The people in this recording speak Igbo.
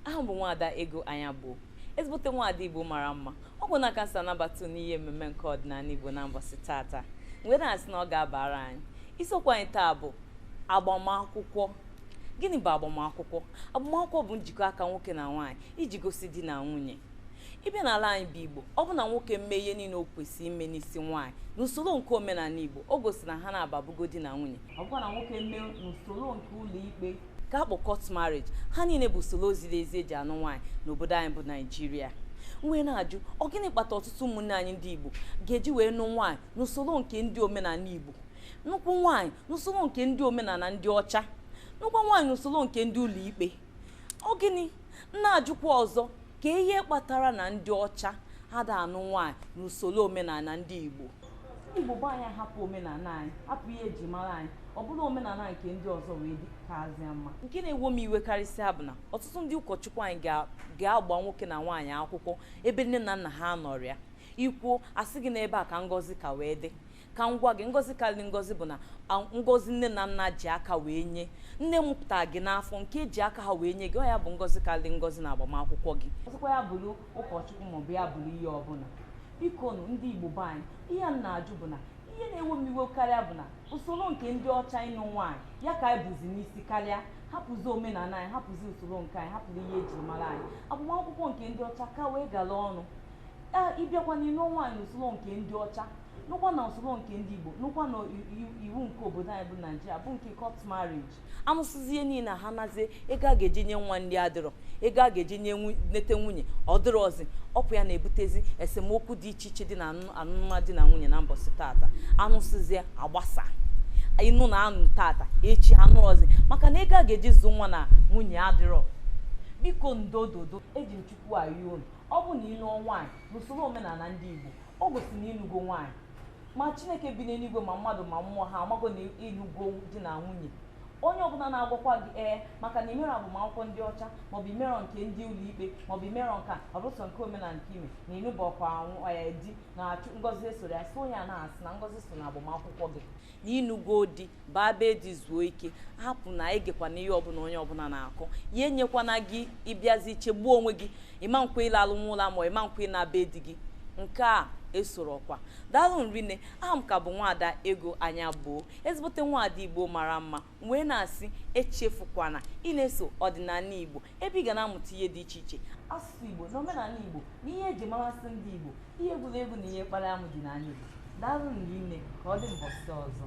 aha m bụ nwaada ego anyagbo ezigbote nwaada igbo mara mma ọ bụ na ka m si anabata n'ihe mmemme nke ọdịnala igbo na mbọsị tata wee na-asị na ọ ga-abara anyị isiokwu anyị taa bụ agbamakwụkwọ gịnị bụ agbamakwụkwọ agbamakwụkwọ bụ njikọ aka nwoke na nwaanyị iji gosi di na nwunye ịbịa n'ala anyị bụ igbo ọ bụ na nwoke mee ihe niile o kwesịrị ime n'isi nwaanyị n'usoro nke omenala igbo o gosi na ha naabọ abụgo di na nwunye ọ bụkwa na nwoke mee n'usoro nke ụlọ ikpe ka akpọ court marriage ha niile bụ usoro ziri ezi eji anụ nwaanyị n'obodo anyị bụ naijiria wee na-ajụ ọ gịnị kpata ọtụtụ ụmụnne anyị ndị igbo ga-eji wee nụ nwaanyị n'usoro nke ndị omenala igbo nụkwuo nwaanyị n'usoro nke ndị omenala ndị ọcha nụkwuo nwaanyị n'usoro nke ndị ụlọ ikpe ọ gịnị m na-ajụkwa ọzọ ka ihe kpatara na ndị ọcha ada anụ nwaanyị n'usoro omenala ndị Igbo Igbo bụ anyị hapụ omenala anyị hapụ ihe eji mara anyị ọ bụrụ omenala nke ndị ọzọ wee dịkazie mma nke na-ewo m iwe karịsịa bụ na ọtụtụ ndị ụkọchukwu anyị ga- ga-agba nwoke na nwaanyị akwụkwọ ebe nne na nna ha nọrịa ikwuo asị gị na ebe a ka ngọzi ka wee dị ka m gwa gị ngọzi karịrị ngọzi bụ na ngọzi nne na nna ji aka wee nye nne mụpụta gị n'afọ nke eji aka ha wee nye gị ọ ya bụ ngọzi karịrị ngọzi na agbamakwụkwọ gị ọzọkwa ya bụrụ ụkọchukwu maọbụ ya bụrụ ihe ọbụla biko nụ ndị igbo be anyị ihe m na-ajụ bụ na ihe na-ewe m iwe karịa bụ na usoro nke ndị ọcha ịnụ nwaanyị ya ka anyị buzi n'isi karịa hapụzi omenala anyị hapụzi usoro nke anyị hapụzi ihe eji mara anyị agbamakwụkwọ nke ndị ọcha ka wee gara ọnụ ịbịakwa n'ịnụ nwaanyị n'usoro nke ndị ọcha nụkwa na usoro nke ndị Igbo nụkwa na iwu nke obodo anyị bụ Naijiria bụ nke court marriage anụsịzie niile ha nazie ego a ga-eji nye nwa nri adịrọ ego a ga-eji nye nete nwunye ọ dịrọzi ọkwa ya na-ebutezi esemokwu dị iche iche dị na anụm di na nwunye na mbọsị tata anụsịzie agbasa ịnụ na anụ tata echi anụrọzi maka na ego a ga-eji zụ nwa na nwunye adịrọ biko ndododo eji m chukwu ayọ unu ọ bụ na ịlụọ nwaanyị n'usoro omenala ndị Igbo o gosi na ịnụgo nwaanyị ma chineke bi n'eluigwe ma mmadụ ma mmụọ ha amago na ịnụgo di na nwunye onye ọbụla na-agwakwa gị ee maka na imerọ agbamakwụkwọ ndị ọcha maọbụ imerọ nke ndị ụlọikpe maọbụ imerọ nke a ọ bụ sọ nke omenala nke ime na ịnụberọkwa nwunye di na achụ ngọzi esorọ ya sị onye a na asị na ngọzi so na agbamakwụkwọ gị na ịnụgo di baa be di zuo ike hapụ na egekwana ihe ọbụla onye ọbụla na-akọ ya enyekwana gị ịbịazi chegbuo onwe gị ịma nkwa ịla ala n'ụlọ ma ịma nkwa ịna be di gị nke a esorọkwa daalụ rinne aha m ka bụ nwaada ego anyagbo ezigbote nwaada igbo mara mma wee na-asị echefukwana ịna-eso ọdịnala igbo ebe ị ga na-amụta ihe dị iche iche asụsụ igbo na omenala igbo na ihe eji marasị ndị igbo ihe egwuregwu na ihe kpara amụ dị n'anị Igbo daalụ rinne ka ọ dị mbọsị ọzọ